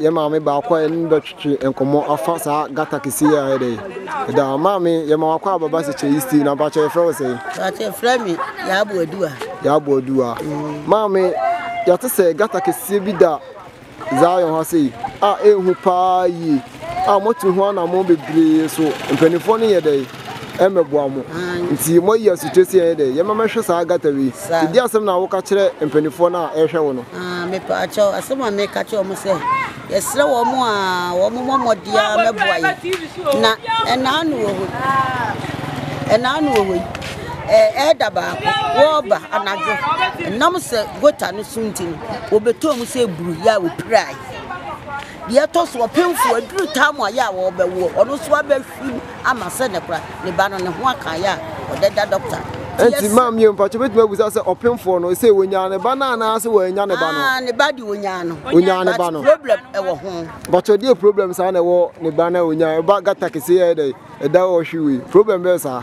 Yɛn maame baako a yɛne no bɛtwetwe nkɔmmɔ afa saa gata kɛseɛ yi a ɛyɛ dɛ ɛda hɔ. Maame, yɛma wakɔ a bɛba sɛ kyɛ East na mpakyɛ yɛfrɛ wo sɛn? Mpakyɛ frɛ me Yaabu Aduwa. Yaabu Aduwa. Mm. Maame, yɛte sɛ gata kɛseɛ bi da Zion ha sei a ɛhu paa yie a moatu ho anammɔn bebree so mpanimfoɔ no yɛ dɛ? mɛboa mo. Nti moayi asotwe sɛ yɛn dɛ, yɛmma mɛhwɛ saa gutter wei. Saa. Di asɛm no a woka kyerɛ mpanimfoɔ no a ɛrehwɛ wo no. Ah, mepaakyɛw, asɛm a meka kyerɛ wɔn sɛ, yɛsrɛ wɔn a wɔmmɔ mmɔden ara mmɛboa yɛn. Na ɛnaano wɔ hɔ yi, ɛnaano wɔ hɔ yi, eh, ɛɛda baako, wɔreba anadwo, ɛnam sɛ gota no so nti no, wɔbɛtɔɔ mu sɛ buru yɛ a wɔpirae. Deɛ ɛtɔ so ɔpemfoɔ, aduru tam a yɛ a wɔbɛwoɔ, ɔno nso abɛhwɛ. Food ama sɛ ne kora ne ba no ne ho aka yɛ a ɔdɛ da dɔkta ti ɛsɛ. Ɛnti maam yɛ mfakyɛ bɛtumi abusa sɛ ɔpemfoɔ no sɛ ɔnyaa ne ba no anaa sɛ wɔannya ne ba no. Aa ne ba de ɔnyaa no. Ɔnyaa ne ba no. But problem ɛwɔ ho. Mpakyɛ deɛ problem saa na ɛwɔ ne ba no a ɔnyaa ɛba gata kɛseɛ yɛ dɛ ɛda ɔhwe wei problem bɛyɛ saa.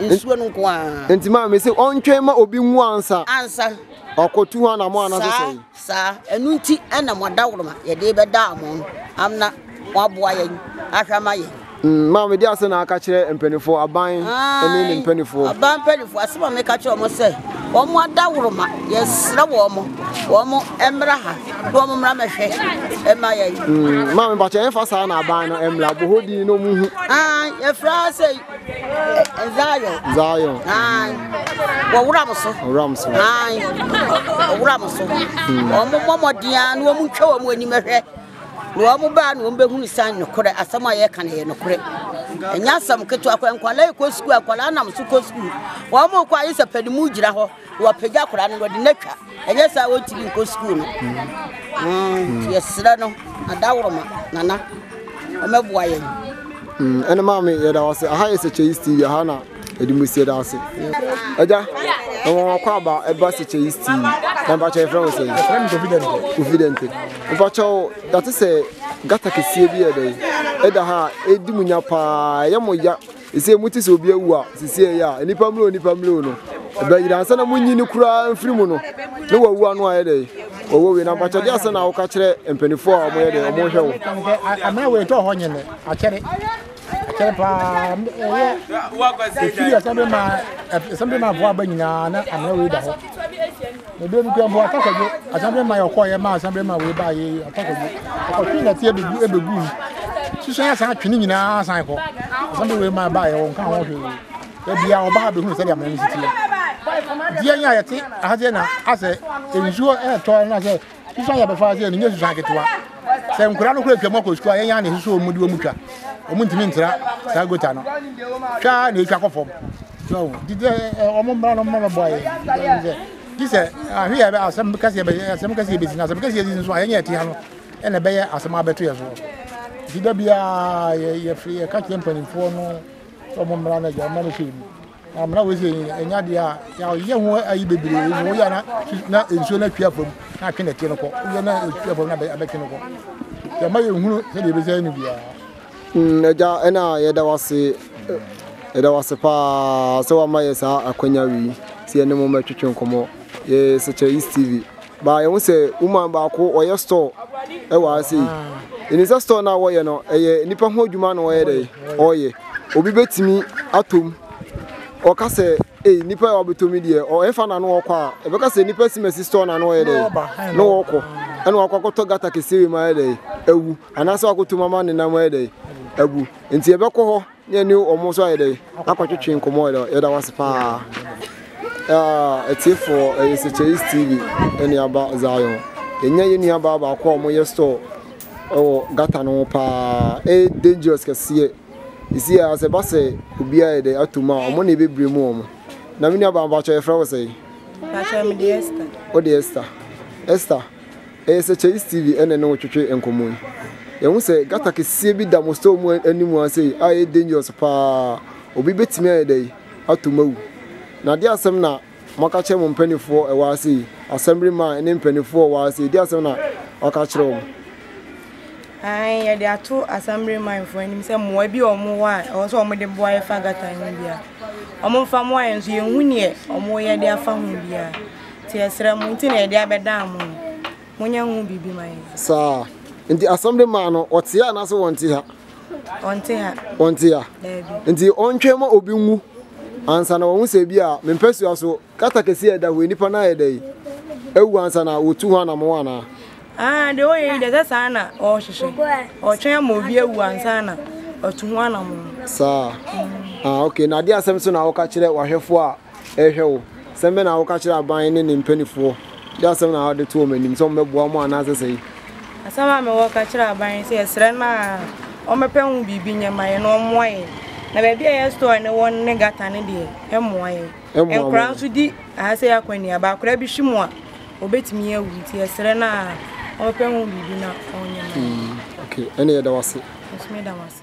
Nsuo no nko ara. Nti maa mi sɛ ɔntwɛn ma obi nwu ansa. Ansa. Ɔkɔtu ho anamɔ anasɛ sɛ. Saa saa ɛnu nti ɛna mo adawoloma yɛde bɛda mo no amna mo aboa yɛn ahwɛ ama yɛn. Mm, maa mi de asɛ na aka kyerɛ mpanimfoɔ aban ɛne ne mpanimfoɔ. Aban mpanimfoɔ asɛ maa mi ka kyerɛ wɔn sɛ wɔn mo adawoloma yɛsrɛ wɔn mo wɔn mo ɛmra ha na wɔn mra mɛhwɛ ɛma yɛn. Mm, maa mi mpakyɛ ɛnfa saa na aban no ɛmra bohodi na wɔn hu. Ah, yɛfra sɛ Zion. Zion. Ayi. Wɔwura mo so. Wɔwura mo so. Ayi. Wɔwura mo so. Hmm. Wɔn mmɔ mmɔden a na wɔn ntwa wɔn anim hwɛ. Na wɔn baa na wɔn bɛhunu san nokorɛ asɛm a yɛka no yɛ nokorɛ. Ɛnyɛ asɛm ketewa kɔ nkwadaa kɔ sukuu akwadaa nam so kɔ sukuu. Wɔn kɔ ayɛ sɛ panimu gyina hɔ. Wɔapagya akwadaa no, wɔde no atwa. Ɛnyɛ saa wɔntumi nkɔ sukuu no. Mm, yɛserɛ no, adaworoma, nana, ɔmɛboa yɛn. Mm, ɛne maa me yɛda wase aha yɛ sɛkyɛ yi steve aha na ɛde mu sie da ase agya ɛwɔ wakɔ aba ɛba sɛkyɛ yi steve na mpakyɛ yɛfrɛ wo sɛ confidente mpakyɛ wo yɛte sɛ gata kɛseɛ bi yɛ dɛ ɛda ha ɛdi mu nya paa ɛyɛ mo ya Ese mote sɛ obi awu a, sisiɛ yi a, nnipa mmerɛw nnipa mmerɛw no, ɛbɛyera ansa na munyi no koraa mfiri mu no, na wawu ano ayɛ dɛn? Ɔwɔ wei, na mpakyɛdeɛ asɛn na woka kyerɛ mpanimfoɔ a wɔyɛ dɛn, wɔn hwɛ wo. Amena wei tɔ hɔ nyene, akyɛre, akyɛre paa, ɛyɛ, ɛfiri ɛsɛn bi ma, ɛsɛn bi ma voa ba nyinaa, na amena wei da hɔ. Ebien nko mpo atakɔdwo asɛmbre ma yɛ ɔkɔɔ yɛ ma asɛmbre ma wei baa yɛ yi atakɔdwo ɔkɔtwe nɛte ebegu ebegu mu soso yɛ asan atwe ne nyinaa asan kɔ asɛmbre wei ma baa yɛ wɔn ka ho hwee ebia ɔbaa bɛ hunu sɛdeɛ amena ne sisi yɛ deɛ nyɛ a yɛte ahadeɛ na asɛ nsuo ɛɛtɔ na sɛ soso ayɛ bɛfa sɛ ne nyɛ soso aketewa sɛ nkura no kura twam akɔ sukuu a yɛn yɛn na ɛsɛ sɛ wɔn de wɔn twa wɔn ntumi ntra saa gota no twa na etwa kɔ fam so didi wɔn mmara no mmara bɔ ayɛ ti sɛ ahwe yɛ asɛm kɛseɛ bɛ asɛm kɛseɛ bɛsi na asɛm kɛseɛ si nso a yɛnyɛ ɛtea no ɛna ɛbɛyɛ asɛm abɛto yɛ so nti da biara yɛfiri yɛka kyerɛ mpanimfoɔ no sɛ wɔn mmara no agya mmara no hwɛ mu Amena wei sɛ ɛnyɛ adeɛ a yɛayɛ ho ayi bebree mu woyɛ na na nsuo no atwi afam na atwe nɛteɛ no kɔ woyɛ na atwi afam na abɛtwe no kɔ yɛma yɛhunu sɛdeɛ yɛbɛsɛ no biara mm, agya ɛna yɛda wase yɛda wase paa sɛ wama yɛ saa akwanya wei sɛ yɛne mo mɛtwetwe nkɔmmɔ yɛ sɛkyɛ east tv Ba yɛhu sɛ woman baako ɔyɛ store wɔ ha sei. Ɛnim sɛ store no a wɔyɛ no ɛyɛ nipa ho adwuma na ɔyɛ dɛ ɔyɛ. Obi bɛtumi atom ɔka sɛ ei nipa a ɔbɛtɔ mi deɛ ɔyɛfa na no ɔkɔ a ɛbɛka sɛ nipa simasi store na no ɔyɛ dɛ na ɔkɔ ɛna wakɔ akɔtɔ gata kɛseɛ wei ma ayɛ dɛ awu anaasɛ wakɔtom ama ne nam ayɛ dɛ abu nti ɛbɛkɔ hɔ yɛn ne wɔn nso ayɛ dɛ akɔtwetwe nkɔmɔ yɛ dɛ yɛda wase paa ɛtiefoɔ ɛyɛ sɛkyɛyis tv ɛne aba zion ɛnya yɛ nua baa baako a wɔyɛ store ɛwɔ gata no paa ɛyɛ dangerous kɛseɛ ɛsi a sɛ ba sɛ obi ayɛ dɛ ato mu a wɔn na ɛbɛbire mu wɔn na me nua baa mpakyɛ yɛfrɛ wo sɛ wode esther esther Ɛyɛ sɛ Chase TV na ɛne wo twetwe nkɔmmɔ yi. Yɛahu sɛ gutter kɛseɛ bi da mo store mu anim ha sei a ɛyɛ dangerous paa. Obi bɛtumi ayɛ dɛn? Ato mu awu. Na ɛdeɛn asɛm na moaka akyerɛ mo mpanimfoɔ a ɛwɔ ha sei? Assembly man ne mpanimfoɔ a ɛwɔ ha sei, ɛdeɛn asɛm na wɔaka akyerɛ wɔn? Aane, yɛde ato Assembly man foɔ anim sɛ mmoa bi a wɔn wɔ a ɛwɔ sɛ wɔn de boa yɛfa gutter yi ho biara, wɔn mfa mmoa yɛn nso yɛnhu deɛ wɔn reyɛ de afa ho biara. Nti yɛsrɛ mo nti na yɛde abɛdaa mo no, monyɛ ho biribi ma yɛn. Saa. Nti asɛm de maa no, ɔte ha anaasɛ wɔnte ha? Ɔnte ha. Ɔnte ha. Daabi. Nti ɔntwɛn ma obi nwu ansa na wɔn sɛ bi a me mpasua so kata kɛse a ɛda hɔ nnipa no ayɛ dɛ yi awu ansa na wɔtu ho anamɔ anaa? Ah, deɛ ɔyɛ yi deɛ sɛ saa na ɔrehwehwɛ. Ɔtwɛn ma obi awu ansa na ɔtu ho anamɔ. Saa. Ah, okay. Na adeɛ asɛm so na ɔka kyerɛ wahwɛfoɔ a rehwɛ wo. Sɛm bɛn na woka kyerɛ aban ne ne mpanimfoɔ? Dɛn asɛm na wode to wɔn anim, sɛ wɔbɛboa mo anaa sɛsɛi? Asɛm a mewɔ ka kyerɛ aban ne sɛ, yɛsrɛ no a wɔmmɛpɛ ho biribi nyɛ mma yɛn na wɔmmoa yɛn. Na baabi a ɛyɛ store no wɔ no ne gutter no deɛ, ɛmmoa yɛn. Nkwadaa nso di ha sɛ akwannuaba. Akwadaa bi hwe mu a, ɔbɛtumi awu. Nti yɛsrɛ no a wɔmmɛpɛ ho biribi na wɔnyɛ mma yɛn. Okay, ɛnneɛ yɛda wo ase. Nso meda mo ase.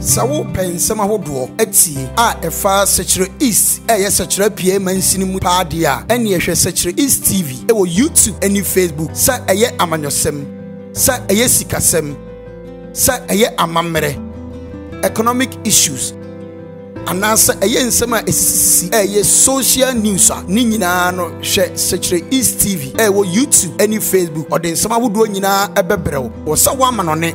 Sɛ wo pɛ nsɛm ahodoɔ atie a ɛfa Sɛkyerɛ East a ɛyɛ Sɛkyerɛ Apiaɛ Mansini mu paa deɛ a, ɛneɛ hwɛ Sɛkyerɛ East TV wɔ YouTube ɛne Facebook, sɛ ɛyɛ amanyɔsɛm, sɛ ɛyɛ sikasɛm, sɛ ɛyɛ amammerɛ, economic issues, anaa sɛ ɛyɛ nsɛm a ɛsisisisi a ɛyɛ social news a, ne nyinaa no hwɛ Sɛkyerɛ East TV a ɛwɔ YouTube ɛne Facebook, ɔde nsɛm ahodoɔ nyinaa ɛbɛbrɛ wo wɔ sɛ woamanɔne.